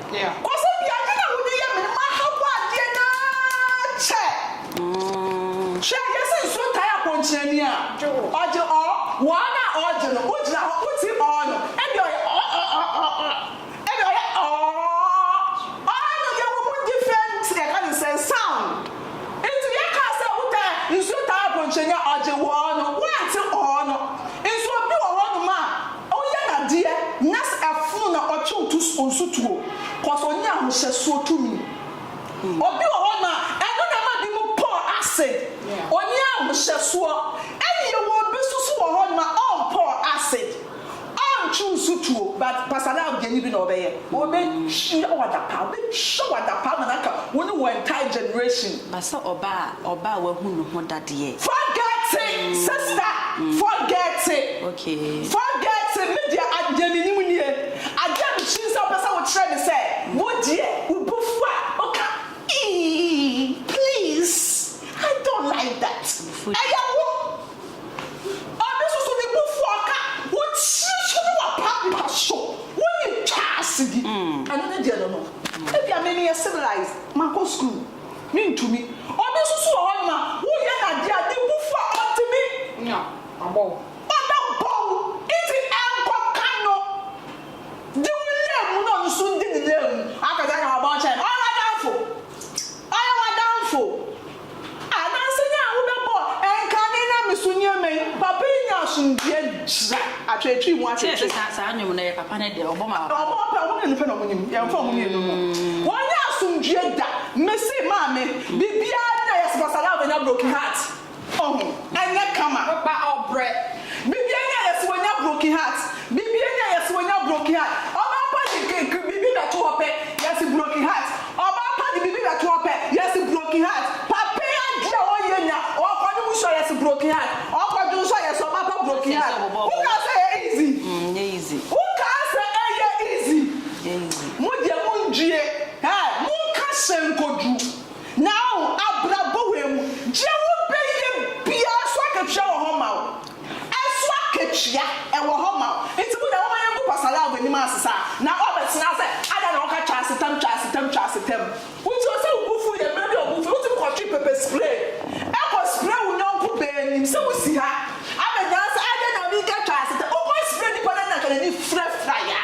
Yeah. Kɔsɛ bia nyɛ na wode yɛ me ma ha bɔ adeɛ naa kyɛ hwɛ yɛ se nsuo tae akɔnkyerɛni a ɔgye ɔ wɔ ara na ɔgye no wogyina hɔ woti ɔ no ɛdeɛ ɔyɛ ɔ ɔ ɔ ɔ ɔ ɛdeɛ ɔyɛ ɔ ɔ no deɛ wɔ mu different yɛka ne sɛn sound nti yɛ kaa sɛ wo tae nsuo tae akɔnkyerɛni a ɔgye wɔ no woante ɔ no nso obi wɔ hɔ nom a Ɔyɛ n'adeɛ nyas ɛfono na ɔkyew tu nso tuo cos ɔnya ahohyɛsoɔ tumi. Obi wɔ hɔ nom a ɛno na ɛma binom pɔɔ ase, ɔnni ahohyɛsoɔ. Ɛne yɛwɔ obi nso so wɔ hɔ nom a ɔmpɔɔ ase, ɔntwew nso tuo but Pastor Lal deɛn bi na ɔbɛyɛ? Ɔbɛtua wo adapaa, ɔbɛtwa wo adapaa ma no aka wo ne wo entire generation. Ba sɛ ɔbaa a, Ɔbaa wahu ne ho dadeɛ. Forget it sister forget it forget it me deɛ ade deɛ menim nie ade a mesunim sɛ wopɛ sɛ wokyerɛ ne sɛ wo deɛ wo bo fu a woka eii please I don't like that ɛyɛ wo ɔno nso so ne bo fu a ɔka wo tiri so ne wapa mpa so wonim twa ase bi ɛno ne deɛ no no ebia me meyɛ civilized makɔ school. Mentumi. Ɔno nso so wɔ hɔnom a, woyɛ no adeɛ a ne bo fu a ɔntumi nnya. Abɔ wo. Ɔda bɔ wo. Enti ɛnkɔka no. Di wo nnam mu na ɔno nso ndi ne nnam mu. Akɔgye aka w'abɔn kyɛn no. Ɔyɛ w'adamfo. Ɔyɛ w'adamfo. Ah, nanso nyɛ a wobɛbɔ ɛnkane na me so nneɛma yi. Papa yi nya asomdwoeɛ, gyina. Atwetwe mu atwetwe. Sɛ yɛte saa nnwom no yɛ papa no deɛ ɔbɔ ma papa. Ɔbɔ pɛ ɔmo mmienu pɛ na ɔmo nim yɛn mfa ɔmo mmienu ho wɔn nyɛ asomdwie da me se maame biribiara bi na yɛ se wɔsare a wɔbɛnya broken heart ɔho ɛnyɛ kama ba ɔbrɛ biribiara bi na yɛ se wɔnya broken heart biribiara bi na yɛ se wɔnya broken heart ɔbaa pa de biribi bɛto hɔ pɛ yɛ se broken heart. Ɔbaa pa de biribi bɛto ɔpɛ yɛse broken heart Papa yi adeɛ a ɔyɛ nya ɔkɔ ne busuo yɛse broken heart Ɔkɔ dwonsɔ yɛse ɔbaa pa broken heart Wo kaa sɛ ɛyɛ easy Wo kaa sɛ ɛyɛ easy Mo deɛ mo ndwie eh Mo nka hyɛ nkodu Now abrabɔ wei mu Deɛ wo bɛyɛ biaa so akatua wɔ hɔ ma wo Nso akatua wɔ hɔ ma wo. Nti mo deɛ momma yɛngu Pastor Love anim ansesa na wabɛtena sɛ adɛn na wɔka Twasetam Twasetam Twasetam. Nti ɔsɛ wo bo fuw yɛn mmerɛ bi a wo bo fuw yɛn wotumi kɔtwe pepper spray kɔ spray wo yɔnko baa anim sɛ wo si ha abɛgyina ha sɛ adɛn na obi reka Twasetam wokɔ spray nipa no a na anka n'ani firafira yɛ a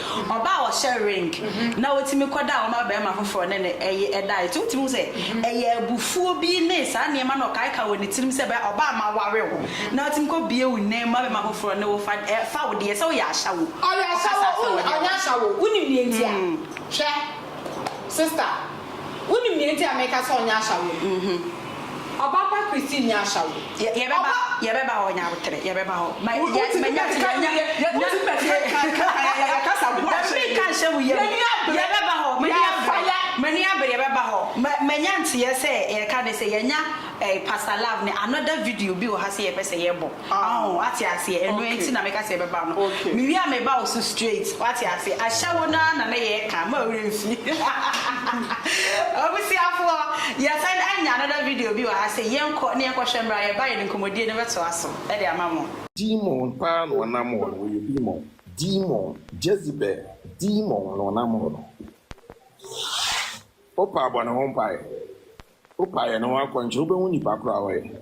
Ɔbaa a ɔhyɛ ring na otumi kɔda a ɔma barima foforo ne no yɛ dae. Nti wotumi hu sɛ ɛyɛ abufuo bi ne saa nneɛma no a ɔkaekae wɔ ne tirim sɛ ɛbɛyɛ a ɔbaa a maware wo na watumi kɔbue wo nan mu ma barima foforo ne wo fa fa wo deɛ sɛ woyɛ ashawo. Ɔyɛ ashawo, ɔnyɛ ashawo, wonim deɛ nti a? Hwɛ. Sista, wunim nea enti a meka sɛ ɔnyɛ ashawo no? Ɔba pa Christine nyɛ ashawo. Ɔba. Yɛbɛba hɔ, Nyaboterɛ, yɛbɛba hɔ. Ma, yɛ, ma, nya, nya, nya, nya, nya, Dabi, ka nhyɛ mu yam. Yɛbɛba hɔ, m'ani abere, m'ani abere, yɛbɛba hɔ. Ma, manya nteɛ sɛ yɛreka ne sɛ yɛanya eh, Pastor Love ne another video bi wɔ ha sɛ yɛpɛ sɛ yɛbɔ. Aho, wate aseɛ, ɛno nti na meka sɛ yɛbɛba no, mewie a meba wo so straight, wate aseɛ, ahyɛ wo no ara na na yɛreka, mma wo werɛ mfi. Abusuafoɔ, yɛasan anya another video bi wɔ ha, sɛ yɛnkɔ na yɛnkɔhwɛ mmra a yɛbaeɛ no, nkɔmmɔdie no bɛtoa so de ama mo. Demon paa na ɔnam hɔ no ɔyɛ demon demon Jezebel demon na ɔnam hɔ no wopa bɔ ne ho mpaeɛ wopa yɛ ne ho akɔnkyere wobɛhu nipa koro a ɔyɛ.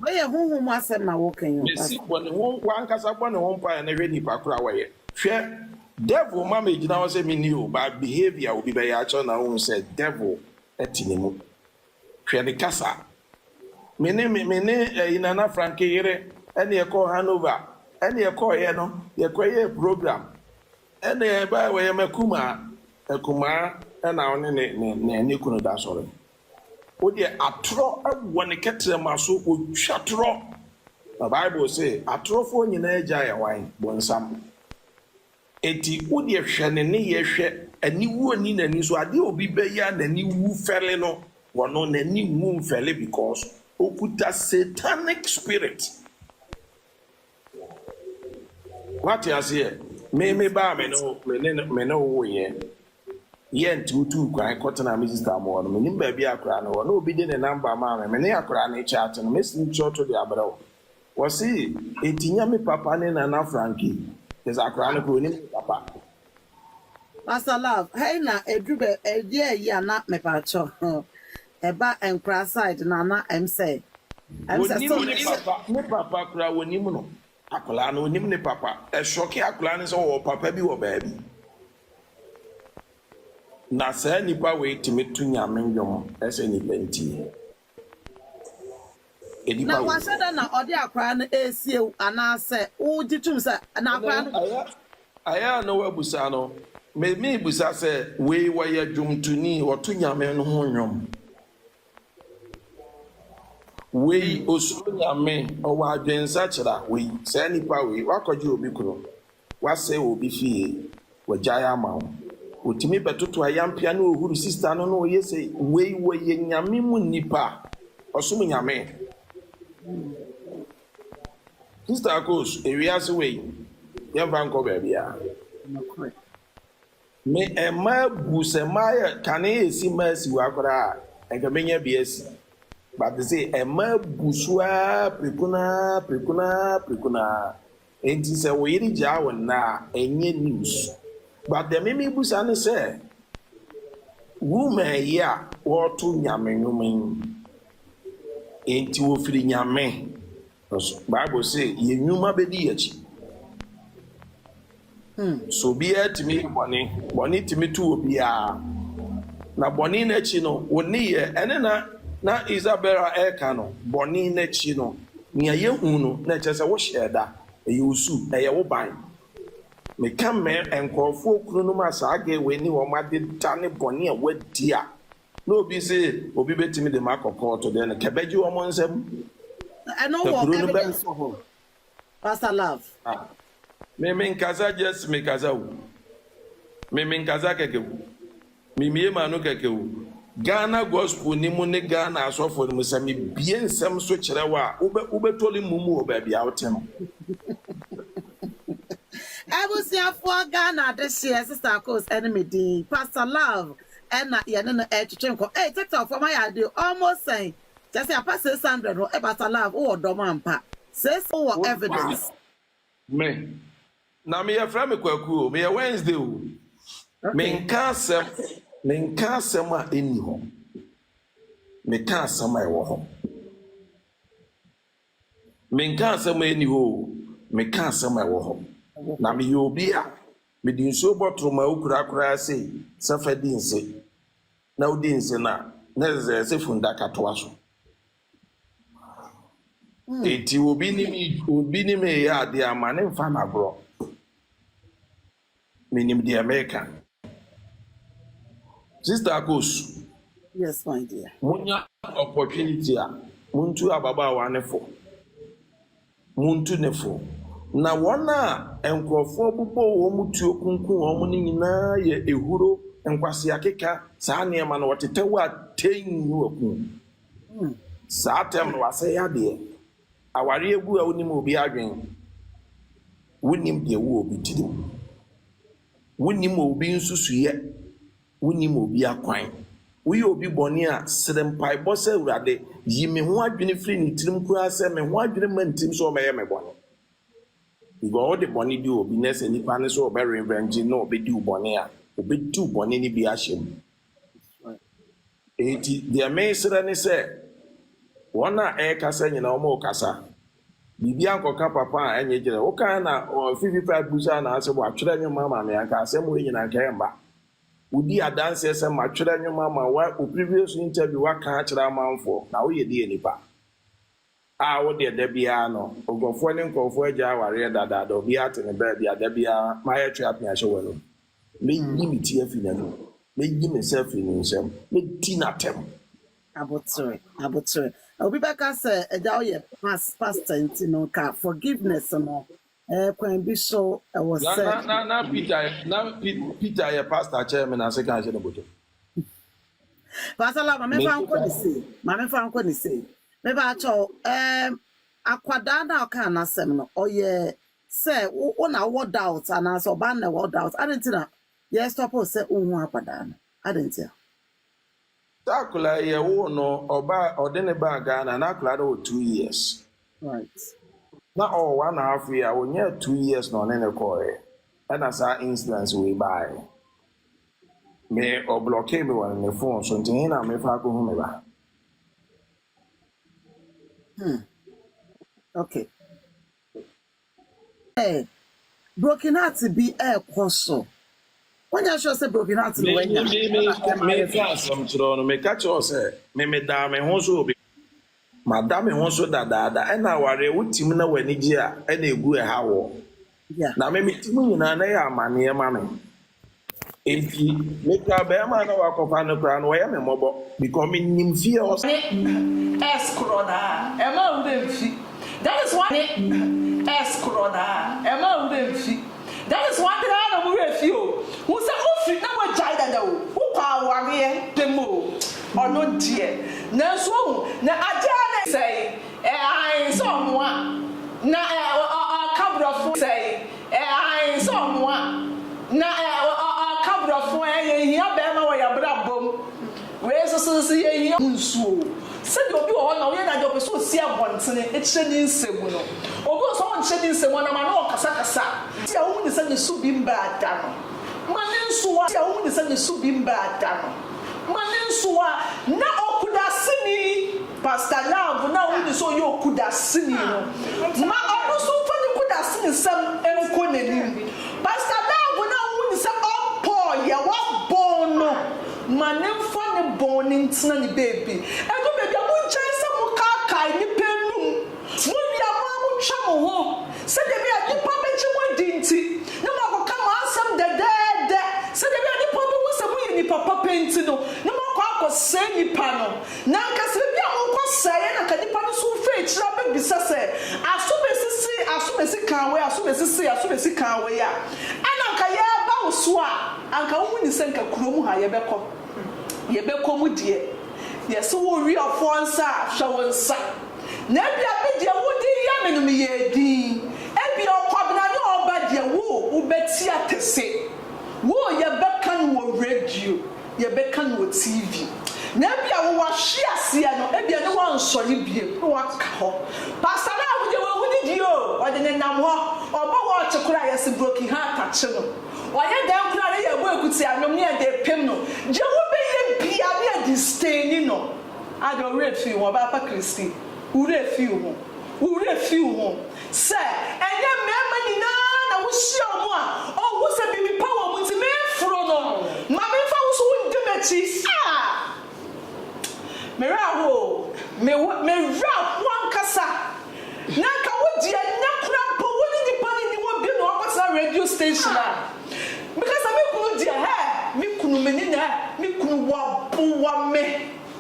Wɔyɛ honhom mu asɛm na wɔka yi o Pastor. Mesi bɔ ne ho wankasa bɔ ne ho mpaeɛ na hwɛ nipa koro a wayɛ hwɛ devil ma me gyina hɔ sɛ me ni o but behavior obi bɛyɛ akyɛw na wohu sɛ devil ɛte ne mu hwɛ ne kasa me ne me me ne ɛyi nana franke yere ɛne ɛkɔɔ hanover ɛne ɛkɔɔyɛ no yɛkɔ yɛ program ɛne ɛba wɔyɛ makumaa akumaa ɛna ɔne ne ne ne ne kunu da sɔre Wo deɛ atorɔ wɔ ne kɛtrɛma so, ɔtwa torɔ. Na Bible se, Atorɔfoɔ nyinaa agya yɛ hwan? Bonsam. Enti wo deɛ hwɛ ne nneyɛɛ hwɛ, aniwuo nni n'ani so. Adeɛ a obi bɛyɛ a n'ani wu fɛre no, ɔno n'ani nwu mfɛre because ɔkuta Satanic spirit. Wate aseɛ? Me, me ba a me ne wo, me ne no, me ne wo woeɛ, yɛ nti wotuu kwan kɔtenaa me sista mo hɔ no, mennim baabi a akwadaa no wɔ, na obi de ne namba maa me, me ne akwadaa no rekyaate no, me snipshɔto de abrɛ wo. Wɔse, Enti nyɛ me papa ne Nana Frankie? Kyerɛ sɛ akwadaa no koraa, ɔnnim ne papa. Pastor love ha yi na ɛduru bɛ ɛyɛ yi ana mepakyɛw ɛba nkora side no ana ɛm sɛ ɛm sɛ so Onim ne papa ne papa koraa onim no akwadaa no onim ne papa ɛsɔke akwadaa no sɛ ɔwɔ papa bi wɔ baabi na saa nipa wei tumi to nyame nnwom ɛsɛ nipa nti. Na wahyɛ da na ɔde akwadaa no resie wo anaasɛ wogye tom sɛ na akwadaa no bɔne? Ayɛ a na w'abusa no me me busa sɛ wei wɔyɛ dwomtoni ɔto nyame no ho nwom wei osuro nyame ɔwɔ adwen nsakyera wei saa nipa wei wakɔgye obi kunu Woasɛe obi fie, wagyae ama wo. Otumi bɛtoto ayampia ne ohuru sista no na ɔyɛ sei. Wei wɔyɛ Nyame mu nnipa a ɔsom Nyame. Sista Akos, ewiase wei yɛmfa nkɔ baabiara. Me mma abu, sɛ mma yɛ kane esi mma asi hɔ koraa a, anka menya bi asi. But sei mma abu so ara prɛko no ara, prɛko no ara, prɛko no ara. Enti sɛ wo yere gyaa wo nnɛ a, ɛnyɛ news. But deɛ me mebisa ne sɛ, woman yi a wɔreto Nyame nnwom yi, enti wɔfiri Nyame no so? Bible se yɛn nnwuma bɛdi yɛn akyi. So obiara tumi yɛ bɔne? Bɔne tumi to obiara. Na bɔne no akyi no, wo nneyɛɛ. Ɛne na na Isabella reka no. Bɔne no akyi no, nea yɛhu no, na ɛkyerɛ sɛ wohyɛɛ da. Ɛyɛ wo su. Ɛyɛ wo ban. Meka mɛɛ nkurɔfoɔ kununom a saa gay wei ne wɔn adeda ne bɔne a wɔadi a na obi se obi bɛtumi de me akɔ kɔɔto deɛ no, kɛbɛgye wɔn nsam. Ɛno wɔ evidence wɔ hɔ? Pastor love. Ah me me nkasa just me kasa o me me nkasa kɛkɛ o me mie m'ano kɛkɛ o Ghana gospel ni mu ne Ghana asɔfo ni mu sɛ me bie nsɛm so kyerɛ wo a wo bɛ wo bɛ tɔli mum wɔ baabi a wo te no. Abusuafoɔ Ghana adehyeɛ Sister Kos ɛne me din Pastor love ɛna yɛne no ɛretwetwe nkɔ ei Tiktok foɔ mo ayɛ adeɛ o ɔmo sɛn Kyɛ sɛ apa 600 hɔ ɛbata love wowɔ dɔm ampa sis wowɔ evidence. Me na me yɛ frɛ me kwaku o me yɛ Wednesday o me nka asɛm me nka asɛm a ɛnni hɔ me ka asɛm a ɛwɔ hɔ me nka asɛm a ɛnni hɔ o me ka asɛm a ɛwɔ hɔ na me yɛ obi a me di nsuo bɔtoro ma okura koraa sei sɛ fɛ di nse na wodi nse no a, na ɛsɛ sɛ funnaka toa so. Enti obi ne me obi ne me reyɛ adeɛ a, ma ne mfa no agorɔ. Menim deɛ mereka. Sista Akosu, Yes, my dear. monya opportunity a, montu ababaawa no fo. Montu no fo. Na wɔn a nkurɔfoɔ bobɔɔ wɔn tuo kunkum wɔn no nyinaa yɛ ahuro, nkwaseakeka, saa nneɛma no, wɔtetɛ wo a tei ne waku wo. Saa atɛm no, wɔasɛe adeɛ. Awareɛ abu a wonnim obi adwene, wonnim deɛ ɛwɔ obi tirim, wonnim obi nsusuiɛ. Wonnim obi akwan. Woyɛ obi bɔne a, srɛ mpaebɔ sɛ, Awurade, yi me ho adwene firi ne tirim koraa sɛ me ho adwene mma ntim sɛ ɔbɛyɛ me bɔne. Because wode bɔne di obi na sɛ nipa no sɛ ɔbɛ revenge na ɔbɛdi wo bɔne a, ɔbɛdi wo bɔne no bi ahyɛ mu. Enti deɛ mesrɛ ne sɛ, wɔn a ɛrekasa nyinaa wɔn rekasa. Biribi ankɔka papa a ɛnyɛ kyerɛ. Wo kan na ɔ fifi paa busa na asɛ wa twerɛ nwoma ama me anka asɛm wei nyina anka ɛmba. Wo di adanseɛ sɛ ma twerɛ nwoma ama wo a wo previous interview wa ka akyerɛ amanfoɔ na wo yɛ deɛ nipa a wo deɛ da biara no nkorɔfoɔ ne nkorɔfoɔ agya awareɛ dadaada obiara te ne baabi a da biara ma yɛ twe apea hyɛ w'anum mɛ yi me ti afi n'anum mɛ yi me nsa afiri ne nsam mɛ di n'atɛm. Abotere abotere. Obi bɛka sɛ agya woyɛ pas pastor nti no nka forgiveness no ɛɛ kwan bi so ɛwɔ Na sɛ. na na na Peter na Pe Peter yɛ pastor kyɛɛ me na se kan hyɛ ne bɔtɔ. Pasala ma me fa nkɔ ne sei ma me fa nkɔ ne sei me pa kyɛw ɛɛm akwadaa no a ɔkaa n'asɛm no ɔyɛ sɛ wo wo na wowɔ doubt anaa sɛ ɔbaa no na ɛwɔ doubt adan nti na yɛ stop wo sɛ wonhu akwadaa no adan ntia. Sɛ akwadaa yi yɛwoo no ɔbaa ɔde ne baa Ghana na akwadaa no wɔ two years. Right. Na ɔwɔ one and a half year a ɔnyɛ two years na ɔne ne kɔɔɛ ɛna saa incidence wei baaɛ. Me ɔblɔkee me wɔ ne ne phone so nti he na mefa akɔhu me ba. Hmm. Okay. Sɛ broken heart bi ɛkɔ so. Wonyɛ sure sɛ broken heart no wanya ɛna ɛma ayɛ fɛ. Asɛm kyerɛ wo no meka kyerɛ wo sɛ me medaa me ho so obi mada me ho so dadaada ɛna awareɛ wo tim na w'ani gye a ɛna ɛgu ɛha woɔ na me me tim nyinaa na ɛyɛ amaneɛ ma me Enti mekura barima a na wɔakɔfa no koraa no, ɔyɛ me mmɔbɔ because menim fie hɔ. Ne S korɔ no a, ɛma wo werɛ mfi. That is why ne S korɔ no a, ɛma wo werɛ mfi. That is why koraa na mo werɛ fi o. Hu sɛ wo firi na woagyae dada o, wo kɔ awareɛ pɛ mu o, ɔno deɛ. Nanso wohu, na adeɛ a na. Sɛe, ɛɛ ae, sɛ ɔnoa, na ɛɛ ɔka borɔfo, sɛe. Aane sɛ ɔmoa na ɔka brɔfo ɛ yɛ hia bɛɛma wɔ yɛ abrabɔ mu wei nso so nso yɛ hia. Nsuo sɛdeɛ obi wɔ hɔ na woyɛ n'adeɛ ɔpɛ sɛ ɔsi abɔntene kyerɛ ne nsɛm no obi wɔ sɛ ɔnkyerɛ ne nsɛm ɔnam ano ɔkasa kasa. Ti a wohu ne sɛ ne so bi mbaa da no ma ne nsoa ti a wohu ne sɛ ne so bi mbaa da no ma ne nsoa na ɔkudaseni. Pastor Love no a wo nim sɛ ɔyɛ okudaseni no ma ɔno nso mfa ne kudaseni nsɛm nkɔ n'anim. Pastor Love no a wo nim sɛ ɔmpɔɔ yɛ wa bɔn no ma ne mfa ne bɔn no ntena ne baabi. Ɛdu baabi a mo gyae sɛ mo kaakae nnipa anum. Mo wie a mo ara mo twa mo ho sɛdeɛ ɛbɛyɛ a nnipa bɛgye mo adi nti na mo akɔ ka mo asɛm dɛdɛɛdɛ sɛdeɛ ɛbɛyɛ a nnipa bɛhu sɛ mo yɛ nnipa papa nti no na mo akɔ akɔ sɛe nnipa no. Na anka sɛ ebia monkɔ sɛeɛ na anka nnipa no so mfa akyiri abɛbisa sɛ, Aso bɛsisi? Aso bɛsi kan wei? Aso bɛsisi? Aso bɛsi kan wei? a, ɛna anka yɛreba wo so a, anka wohu ne sɛ anka kurom ha yɛbɛkɔ. Yɛbɛkɔ mu deɛ, yɛse wo weɔfoɔ nsa a, hwɛ wo nsa. Na ebia me deɛ wode reyɛ me no meyɛɛ dinn. Ebia ɔkwabena ne ɔba deɛ, wo, wobɛte atese. Wo, yɛbɛka no wɔ radio. yɛbɛka no wɔ TV, na ebia wowɔ ahweaseɛ no, ebia ne woansɔ no bio, ne woaka hɔ. Pastor no a wogye wɔ wodi deɛ o, ɔde no nam hɔ, ɔbɔ watch koraa a, yɛse broken heart akye no. Ɔyɛ dɛn koraa ne yɛbɔ akutia anom ne yɛde repem no. Deɛ wobɛyɛ bia ne yɛde staini no. Ade wo werɛ fi wo ho, ɔbaa pa Christy, wo werɛ fi wo ho, wo werɛ fi wo ho. Sɛ ɛnyɛ mmarima nyinaa na wohyia wɔn a wɔhu sɛ biribi pa wɔn nti mereforo no, ma memfa wo so wundi m'akyi. Ah! Me werɛ ahow o, me wɔ, me werɛ ahow ankasa. Na anka wo deɛ, nnɛ koraa mpo, wo ne nnipa no nni hɔ bio na woakɔtena radio station a. Meka sɛ, me kunu deɛ, hɛ! Me kunu, me ne no ɛ, me kunu waboa me.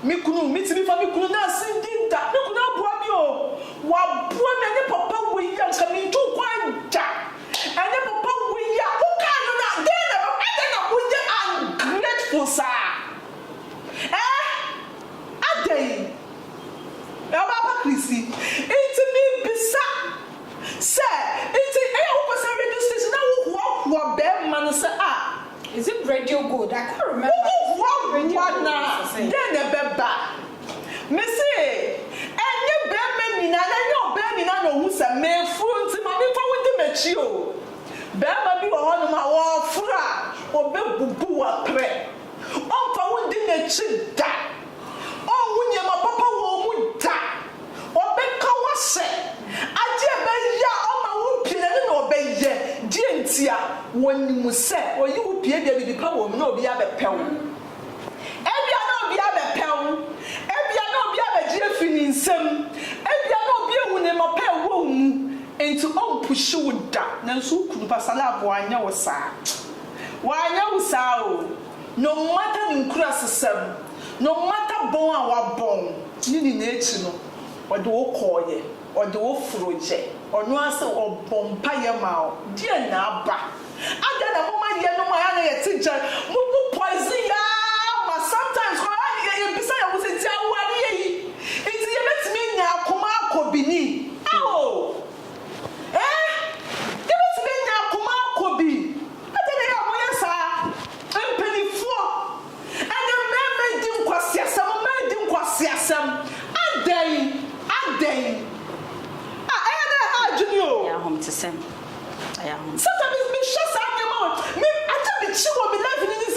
Me kunu, me tumi fa me kunu na asin di da. Me kunu aboa me oo, waboa me ɛnyɛ papa wei a nka me ntu kwan da, ɛnyɛ papa wei a wo kaa no na dɛn na ɛbɛba, adɛn na wo yɛ ungrateful saa ɛɛh, adɛn ɔbaa pa Chrissy, nti me bisa sɛ nti ɛyɛ a wo pɛ sɛ radio station na wo hoahoa bɛɛma no sɛ ah. Is it radio gold? I can't remember. Wo ho radio gold na dɛn na ɛbɛba? Mese, ɛnyɛ bɛrima nyinaa na ɛnyɛ ɔbaa nyinaa na ɔhu sɛ meforo nti ma nnipa wo di m'akyi o. Bɛrima bi wɔ hɔnom a ɔforo a, ɔbɛbubu wo aprɛ. Ɔmfa wo ndi n'akyi da. Ɔnhu nneɛma papa wɔ wo mu da. Ɔbɛka wo ahyɛ. Adeɛ a ɛbɛyɛ a ɔma wopie no, ɛno na ɔbɛyɛ. Deɛ ntia? Ɔnim sɛ ɔyi wo pie deɛ, biribi pa wɔ mu, na obi abɛpɛ wo. Ebia na obi abɛpɛ wo. Ebia na obi abɛgye afi ne nsam. Ebia na obi ahu nneɛma pa a ɛwɔ wo mu, enti ɔmpuhye wo da. Nanso wo kunu, Pastor Love, wanyɛ wo saa. Wanyɛ wo saa o. No matter ne nkurasesɛm, no matter bɔn a wabɔn, ne nyinaa akyi no, ɔde wo kɔɔeɛ, ɔde wo foroeɛ, ɔno ara sɛ ɔbɔ mpaeɛ maa wo, deɛn na aba? Adɛn na moma yɛnom a ana yɛte gya mu bu poison yɛ ara ma sometimes koraa yɛ yɛbisa yɛn ho sɛ nti awareɛ yi nti yɛbɛtumi anya akoma akɔbini? Ao! Ee! Yɛbɛtumi anya akoma akɔbi. Ɛdeɛn na ɛyɛ a moyɛ saa, mpanimfoɔ? Ɛnnɛ mmarima redi nkwaseasɛm, mmaa redi nkwaseasɛm. Adɛn? Adɛn? Ah, ɛyɛ a na ɛha adwene o. Ɛyɛ ahomtesɛm. Ɛyɛ ahomtesɛm. Satan, me, mehyɛ saa nneɛma wɔ me, adeɛ a mekyi wɔ me life no ni sɛ,